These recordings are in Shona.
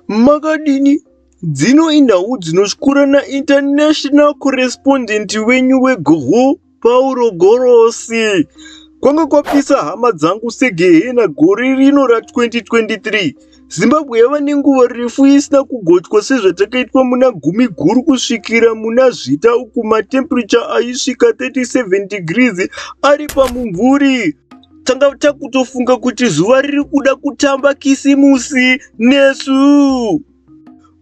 Makadini? Dzino inhau dzinotyura naInternational Correspondent wenyu weGoho, Pauro Gorosi. Kwanga kwapisa hama dzangu segehena gore rino ra2023. Zimbabwe yava nenguva refu isina kugochwa sezvatakaitwa muna gumi guru kusvikira muna zvita uku matemperature aisvika 37 degrees ari pamumvuri. tanga takutofunga kuti zuva riri kuda kutamba kisimusi nesu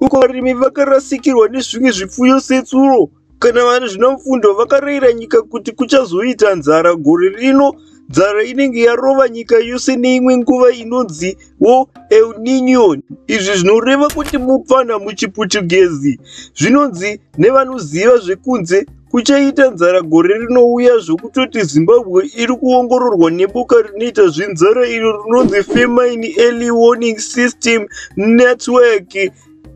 uko varimi vakarasikirwa nezvimwe zvipfuyo setsuro kana vane zvina mfundo vakarayira nyika kuti kuchazoita nzara gore rino nzara inenge yarova nyika yose neimwe nguva inonzi wo el ninion izvi zvinoreva kuti mupfanha muchipuchugezi zvinonzi nevanoziva zvekunze Kuchaita nzara gore rinouya zvokutoti Zimbabwe iri kuongororwa neboka rinoita zvenzara iro rinonzi Famine Early Warning System Network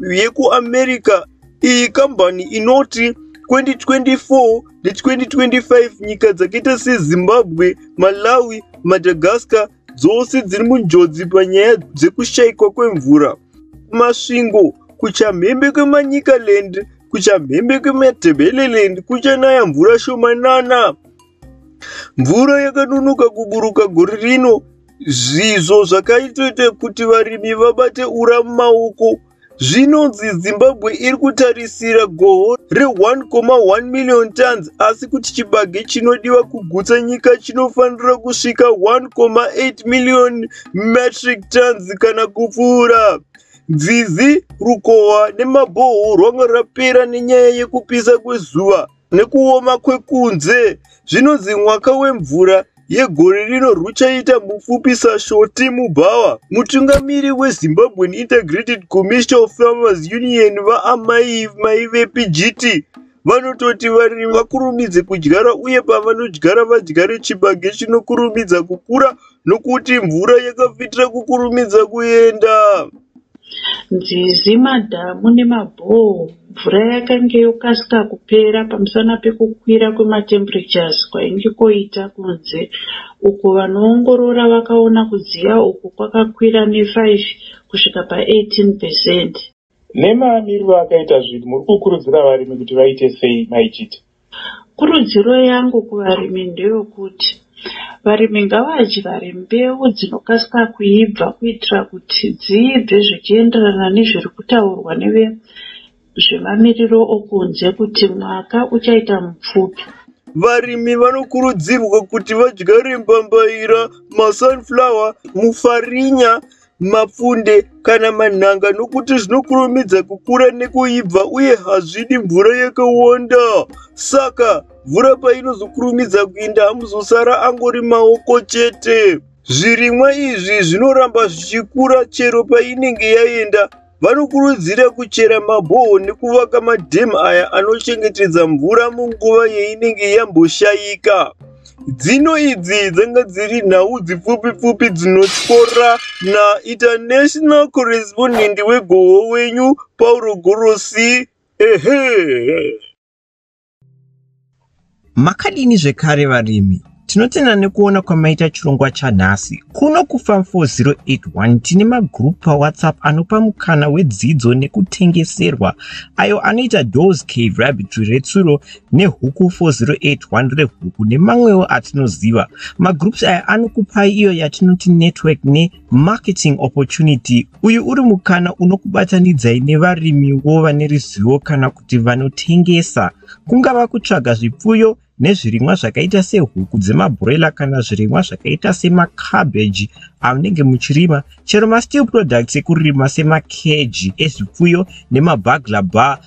yekuAmerica. Iyi kambani inoti 2024 ne2025 nyika dzakaita seZimbabwe, Malawi, Madagascar dzose dziri munjodzi panyaya dzekushaikwa kwemvura. Masvingo, kuchamhembe kweManyikaland kuchamhembe kweMatabeleland kuchanaya mvura shomanana. Mvura yakanonoka kuburuka gore rino zvizvo zvakaitoita kuti varimi vabate ura mumaoko zvinonzi zimbabwe iri kutarisira goho re1,1 million tons asi kuti chibage chinodiwa kugutsa nyika chinofanira kusvika 1,8 million metric tons kana kupfuura Dzizi, rukova nemabhoho rwanga rapera nenyaya yekupisa kwezuva nekuoma kwekunze. Zvinonzi mwaka wemvura yegore rino rwuchaita mupfupi saShoti Mubhawa. Mutungamiri weZimbabwean Integrated Commercial Farmers Union, VaAmai Maivepi Jiti, Vanototi varimi vakurumidze kudyara uye pavanodyara vadyare chibage chinokurumidza kukura nokuti mvura yakafitira kukurumidza kuenda. Nzizi, madhamu nemabhoo mvura yakange yokasika kupera pamusana pekukwira kwematemperatures kwainge koita kunze uko vanoongorora vakaona kudziya uku kwakakwira ne 5 kusvika pa 18 percent. Nemaamiriro akaita zvinhu, muri kukurudzira varimi kuti vaite sei, Mai Chiti? Kurudziro yangu kuvarimi ndeyokuti varimi ngavadyare mbeu dzinokasika kuibva kuitira kuti dziibve zvichienderana nezviri kutaurwa nevezvemamiriro okunze kuti mwaka uchaita mupfupi. Varimi vanokurudzirwa kuti vadyare mbambaira, masunflower, mufarinya mapfunde kana manhanga nokuti zvinokurumidza kukura nekuibva uye hazvidi mvura yakawanda saka mvura painozokurumidza kuinda hamuzosara angori maoko chete zvirimwa izvi zvinoramba zvichikura chero painenge yaenda vanokurudzira kuchera mabhoho nekuvaka madhemu aya anochengetedza mvura munguva yeinenge yamboshayika dzino idzi dzanga dziri nhau dzipfupi pfupi dzinotyora nainternational correspondent wegoho wenyu pauro gorosi ehe Makadini zvekare varimi? Tinotenda nekuona kwamaita chirongwa chanhasi. Kuno kuFarm 4081 tine magurupu paWhatsApp anopa mukana wedzidzo nekutengeserwa ayo anoita Dawes Cave Rabbitry retsuro neHuku 4081 rehuku nemamwewo atinoziva. Magroups aya anokupai iyo yatinoti network ne Marketing Opportunity, Uyu uri mukana unokubatanidzai nevarimiwo vane ruzivo kana kuti vanotengesa. Kungava kutsvaga zvipfuyo nezvirimwa zvakaita sehuku dzemabhuroila kana zvirimwa zvakaita semacabbage amunenge muchirima, chero masteel products ekurima semakeji ezvipfuyo nemabagla bar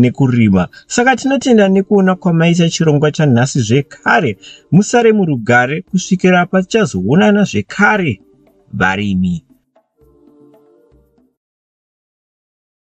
nekurima saka tinotenda nekuona kwamaita chirongwa chanhasi zvekare musare murugare kusvikira patichazoonana zvekare varimi